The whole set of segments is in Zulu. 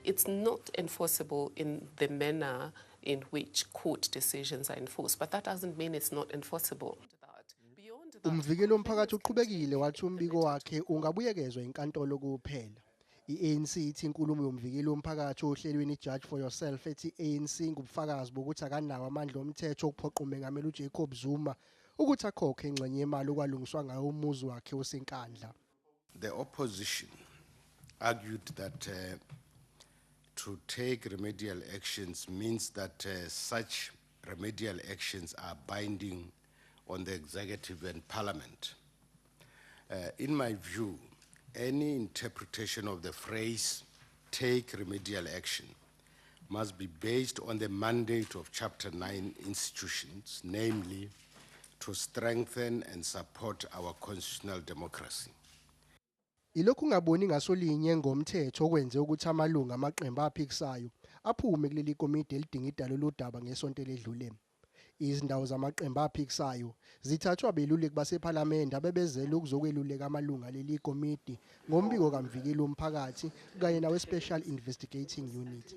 it's not enforceable in the manner in which court decisions are enforced, but that doesn't mean it's not enforceable. Umvikeli womphakathi uqhubekile wathi umbiko wakhe ungabuyekezwa inkantolo kuphela. I-ANC ithi inkulumo yoMvikeli woMphakathi ohlelweni iJudge for Yourself ethi i-ANC ingubufakazi bokuthi akanawo amandla omthetho okuphoqa uMengameli uJacob Zuma ukuthi akhokhe ingxenye yemali okwalungiswa ngayo umuzi wakhe oseNkandla. The opposition argued that uh, to take remedial actions means that uh, such remedial actions are binding on the executive and parliament. Uh, in my view, any interpretation of the phrase take remedial action must be based on the mandate of Chapter 9 institutions, namely to strengthen and support our constitutional democracy. Ilokhu ngaboni ngaso linye ngomthetho okwenze ukuthi amalungu amaqembu aphikisayo aphume kuleli komidi elidinga idalo lodaba ngesonto eledlule. Izindawo zamaqembu aphikisayo zithathwe abeluleki basePhalamende abebezele ukuzokweluleka amalungu aleli komidi ngombiko kaMvikeli woMphakathi kanye naweSpecial Investigating Unit.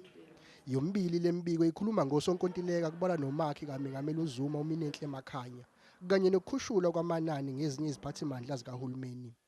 Yomibili le mibiko ikhuluma ngosonkontileka kubalwa nomakhi kaMengameli uZuma uMinenhle Makhanya kanye nokukhushulwa kwamanani ngezinye iziphathimandla zikahulumeni.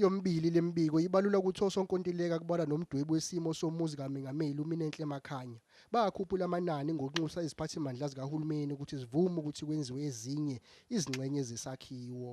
Yomibili le mibiko ibalula ukuthi osonkontileka kubalwa nomdwebi wesimo somuzi kaMengameli uMinenhle Makhanya bakhuphula amanani ngokunxusa iziphathimandla zikahulumeni ukuthi zivume ukuthi kwenziwe ezinye izingxenye zesakhiwo.